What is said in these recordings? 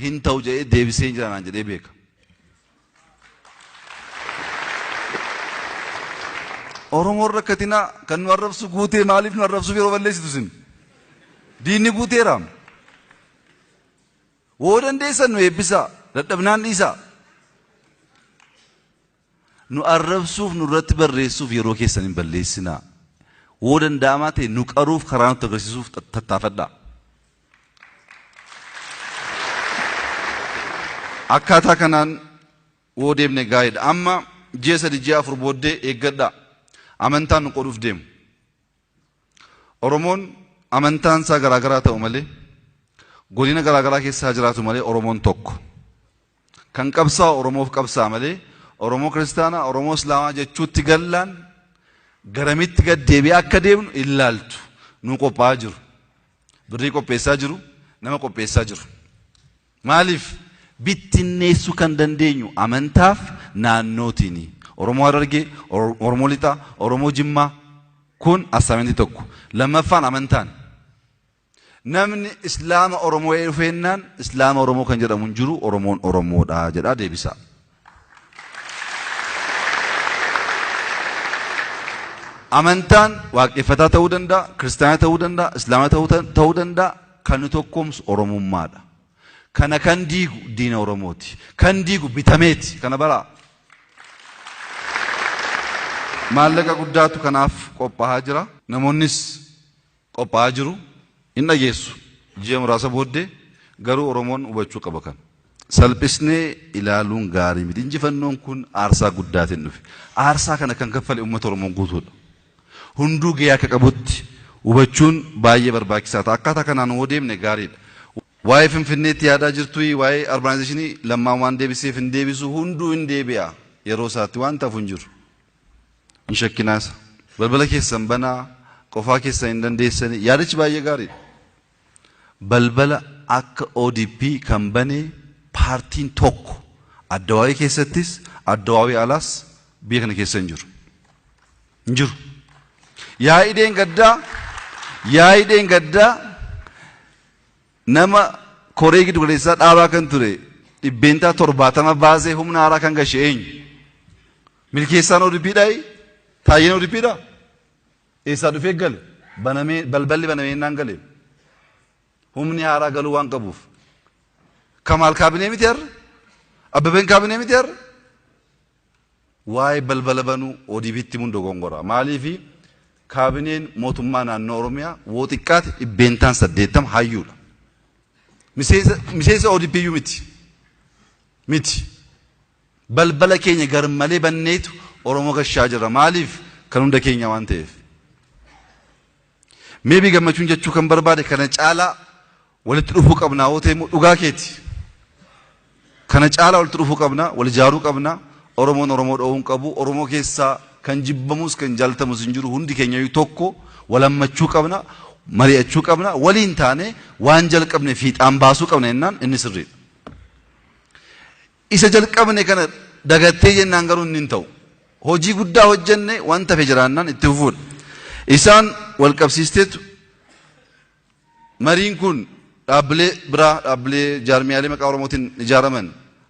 hin ta'u jedhee deebisee jira naan jedhee beeka. Oromoon rakkatinaa kan nu arrabsu guutee maaliif nu arrabsuuf yeroo balleessitu sin? Diinni guuteeraam. Woo dandeessan nu eebbisaa dadhabnaan dhiisaa. Nu arrabsuuf, nurratti barreessuuf yeroo keessan hin balleessinaa. Woo danda'amaa ta'e nu qaruuf karaa nutti agarsiisuuf tattaafadhaa. Akkaataa kanaan woo deemne gaariidha. Amma ji'a sadi ji'a afur booddee eeggadhaa. Amantaan nu qoduuf deemu. Oromoon amantaan isaa garaa garaa ta'u malee, godina garaa garaa keessa haa jiraatu malee Oromoon tokko. Kan qabsaa'u Oromoof qabsaa'a malee Oromoo Kiristaanaa, Oromoo Islaamaa jechuutti gallaan garamitti gad deebi'aa akka deemnu hin laaltu. Nuu qophaa'aa jiru. Birrii qopheessaa jiru, nama qopheessaa jiru. Maaliif? Bittinneessu kan dandeenyu amantaaf naannootiini. Oromoo Harargee, Oromoo Lixaa, Oromoo Jimmaa kun assignment tokko. Lammaffaan amantaan. Namni Islaama Oromoo dhufeennaan Islaama Oromoo kan jedhamu hin jiru Oromoon Oromoodha jedhaa deebisaa. Amantaan waaqeffataa ta'uu danda'a, kiristaana ta'uu danda'a, islaama ta'uu danda'a. Kan nu tokkoomsu Oromummaadha. Kana kan diigu diina Oromooti. Kan diigu bitameeti. Kana baraa. Maallaqa guddaatu kanaaf qophaa'aa jira. Namoonnis qophaa'aa jiru hin dhageessu. Ji'a muraasa booddee garuu Oromoon hubachuu qaba kana. Salphisnee ilaaluun gaarii miti. Injifannoon kun aarsaa guddaatiin dhufe. Aarsaa kana kan kaffale uummata Oromoo guutuudha. Hunduu gahee akka qabutti hubachuun baay'ee barbaachisaa ta'a. Akkaataa kanaan yoo deemne gaariidha. Waa'ee Finfinneetti yaadaa jirtuyi waa'ee arbaanaayizeeshinii Lammaan waan deebiseef hin deebisu hunduu hin deebi'a yeroo isaatti waanti hafu hin jiru. Hin shakkinaa isa. Balbala keessan banaa, qofaa keessan hin dandeessanii. Yaadichi baay'ee gaariidha. Balbala akka ODP kan bane paartiin tokko Addawaawii keessattis Addawaawii alaas biyya kana keessa hin jiru. Hin jiru. Yaa'ii deengaddaa yaa'ii deengaddaa nama koree giddu galeessaa dhaabaa kan ture dhibbeentaa torbaatama baasee humna haaraa kan gashe eenyu? Milkeessaan ODPdha i Taayyeen ODPdha? Eessaa dhufee gale? Banamee balballi banamee innaan gale. Humni haaraa galuu waan qabuuf. Kamaal kaabinee miti har'a? Abbabeen kaabinee miti har'a? Waa'ee balbala banuu ODPtti himuun dogongoraa. Maaliifi kaabineen mootummaa naannoo Oromiyaa woo xiqqaate dhibbeentaan saddeettama hayyuudha. Miseensa miseensa ODP iyyuu miti. Miti. Balbala keenya garmalee banneetu Oromoo gashaa jirra. Maaliif? Kan hunda keenyaa waan ta'eef. Maybe Gammachuun jechuu kan barbaade kana caalaa walitti dhufuu qabnaa yoo ta'e immoo dhugaa keeti. Kana caalaa walitti dhufuu qabnaa, wal ijaaruu qabnaa, Oromoon Oromoo dhowuu hin qabu, Oromoo keessaa kan jibbamus kan jaalatamus hin jiru hundi keenyayyuu tokko wal hammachuu qabna, mari'achuu qabna, waliin taanee waan jalqabne fiixaan baasuu qabna jennaan inni sirriidha. Isa jalqabne kana dagattee jennaan garuu inni hin ta'u. Hojii guddaa hojjenne waan tafe jiraannaan itti fufuudha. Isaan wal qabsiisteetu mariin kun dhaabbilee biraa dhaabbilee jaarmiyaalee maqaa Oromootiin ijaaraman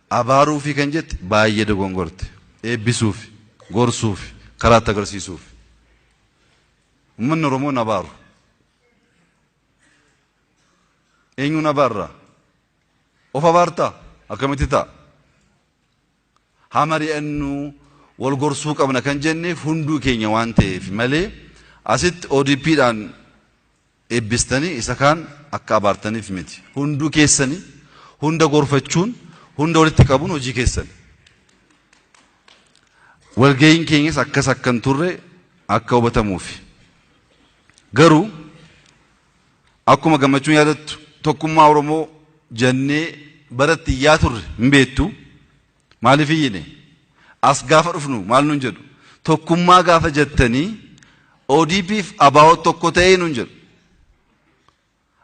abaaruu fi kan jette baay'ee dogongorte. Eebbisuuf, gorsuuf, karaatti agarsiisuuf. Uummanni Oromoo nabaaru. Eenyuun abaarraa? Of abaarta akkamitti ta'a? Haa mari'annu, wal gorsuu qabna kan jenneef hunduu keenya waan ta'eef malee asitti ODP dhaan eebbistanii isa kaan akka abaartaniif miti. Hunduu keessani hunda gorfachuun, hunda walitti qabuun hojii keessani. Walga'iin keenyas akkas akka hin turre akka hubatamuufi. Garuu Akkuma gammachuun yaadattu tokkummaa Oromoo jannee baratti iyyaa turre hin beektu. Maaliif iyyine? As gaafa dhufnu maal nun jedhu? Tokkummaa gaafa jettanii ODP fi ABO tokko ta'ee nun jedhu.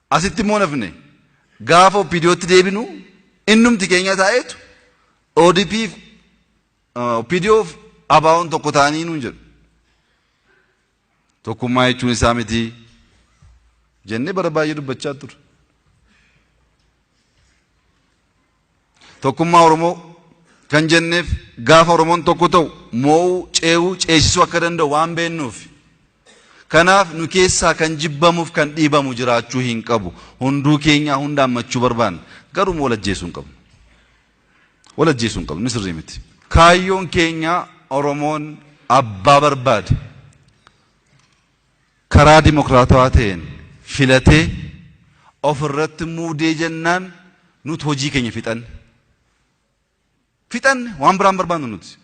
Asitti immoo nafne gaafa OPDOtti deebinu innumti keenya taa'eetu ODP fi OPDO fi ABOn tokko ta'anii nun jedhu. Tokkummaa jechuun isaa miti jennee bara baay'ee dubbachaa turre. Tokkummaa Oromoo kan jenneef gaafa Oromoon tokko ta'u moo'uu, cee'uu, ceesisuu akka danda'u waan beennuuf. Kanaaf nu keessaa kan jibbamuuf kan dhiibamu jiraachuu hin qabu. Hunduu keenyaa hunda hammachuu barbaanna. Garuu immoo wal ajjeesuu hin qabnu. Wal ajjeesuu hin qabnu. Inni sirrii miti. Kaayyoon keenya Oromoon abbaa barbaade karaa dimokiraatawaa ta'een filatee of irratti muudee jennaan nuti hojii keenya fixanne. Fixanne waan biraan barbaannu nuti.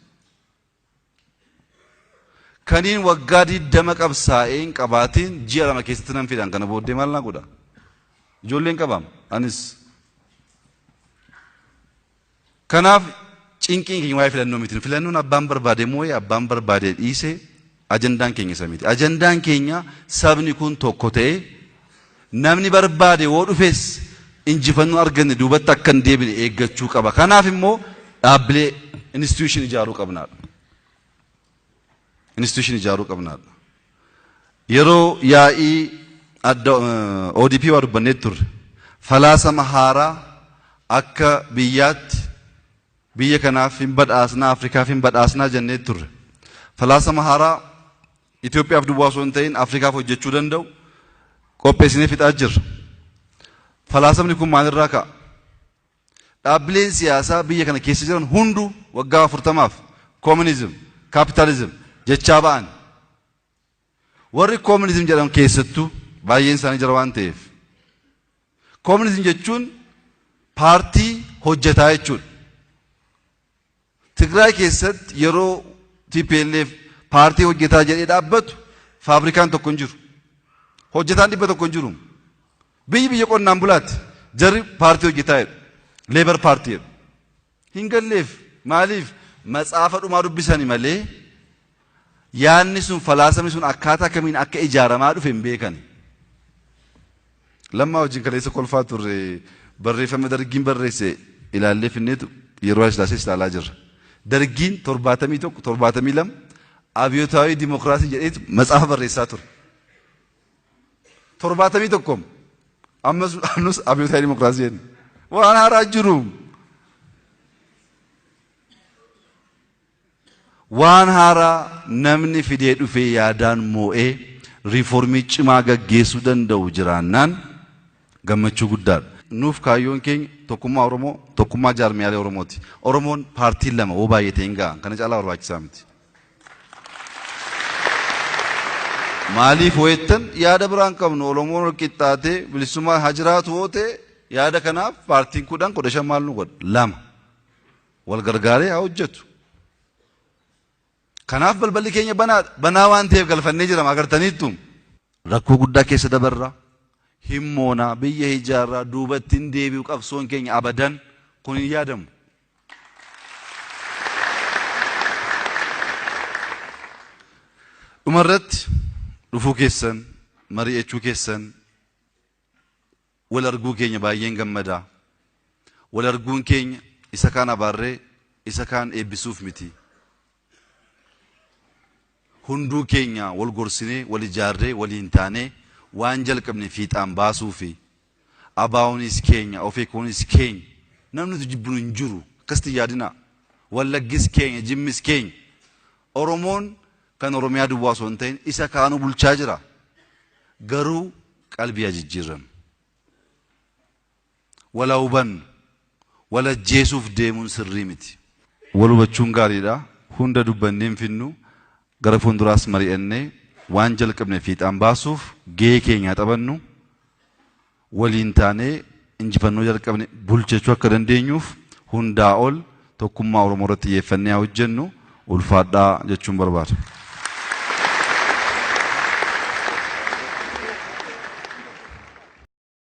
Kaniin waggaa 20 qabsaa'ee hin qabaatiin ji'a lama keessatti nan fidhan kana booddee maal naa godha? Ijoolleen qabaam anis. Kanaaf cinqiin keenya waa'ee filannoo miti. Filannoon abbaan barbaade moo'ee abbaan barbaade dhiisee ajandaan keenya isa miti. Ajandaan keenya sabni kun tokko ta'ee Namni barbaade yoo dhufes injifannoo arganne duubatti akka hin deebine eeggachuu qaba. Kanaaf immoo dhaabbilee institution ijaaruu qabnaadha. Institution ijaaruu qabnaadha. Yeroo yaa'ii adda ODP waa dubbannee turre falaasama haaraa akka biyyaatti Biyya kanaaf hin badhaasnaa, Afrikaaf hin badhaasnaa jennee turre. Falaasama haaraa Itoophiyaaf duwwaa osoo hin ta'in Afrikaaf hojjechuu danda'u qopheessinee fixaa jirra. Falaasamni kun maalirraa ka'a? Dhaabbileen siyaasaa biyya kana keessa jiran hunduu waggaa 40f Communism, Capitalism jechaa ba'an. Warri communism jedhan keessattuu baay'een isaanii jara waan ta'eef communism jechuun paartii hojjetaa jechuudha. Tigraay keessatti yeroo TPLF paartii hojjetaa jedhee dhaabbatu faabrikaan tokko hin jiru. Hojjetaan dhibba tokko hin jiru. Biyyi biyya qonnaan bulaati. Jarri paartii hojjetaa jedhu. Leebar paartii jedhu. hin galleef. Maaliif? Matsaafa dhumaa dubbisani malee yaadni sun, falaasamni sun akkaataa kamiin akka ijaaramaa dhufe hin beekani. Lammaa wajjin kaleessa kolfaa turre barreeffama Dargiin barreesse ilaallee finneetu yeroo Hayilasillaasee ilaalaa jirra. Dargiin 71, 72 abiyotaawii dimokiraasii jedheetu matsaafa barreessaa ture. torbaatamii tokko ammas ammas abiyootaa dimokiraasii jenna. Waan haaraa jiru. Waan haaraa namni fidee dhufee yaadaan moo'ee riiformii cimaa gaggeessuu danda'u jiraannaan gammachuu guddaadha. Nuuf kaayyoon keenya tokkummaa Oromoo, tokkummaa jaarmiyaalee Oromooti. Oromoon paartiin lama woo baay'atee hin ga'a. Kana caalaa barbaachisaa miti. Maaliif hoo jettan yaada biraa hin qabnu Oromoon wal qixxaatee bilisummaan haa jiraatu hoo ta'e yaada kanaaf paartiin kudhan kudha shan maal nu godha lama wal gargaaree haa hojjetu. Kanaaf balballi keenya banaadha banaa waan ta'eef galfannee jirama agartaniittu rakkoo guddaa keessa dabarra himmoonaa biyya ijaarraa duubatti hin deebi'u qabsoon keenya abadan kun hin yaadamu. Dhumarratti dhufuu keessan mari'achuu keessan wal arguu keenya baay'een gammada. Wal arguun keenya isa kaan abaarree isa kaan eebbisuuf miti. Hunduu keenya wal gorsinee wal ijaarree waliin taanee waan jalqabne fiixaan baasuu fi Abaawonis keenya, Ofeekoonis keenya. Namni nuti jibbinu hin jiru. Akkasitti hin yaadinaa. Wallaggis keenya, Jimmis keenya. Oromoon kan Oromiyaa duwwaa osoo hin ta'in isa kaanuu bulchaa jira. Garuu qalbii haa jijjiirrannu. Wal haa hubannu. Wal ajjeesuuf deemuun sirrii miti. Wal hubachuun gaariidha. Hunda dubbannee hin fidnu. Gara fuulduraas mari'annee waan jalqabne fiixaan baasuuf gahee keenya haa taphannu, waliin taanee injifannoo jalqabne bulchachuu akka dandeenyuuf hundaa ol tokkummaa Oromoo irratti xiyyeeffannee haa hojjennu, ulfaadhaa jechuun barbaada.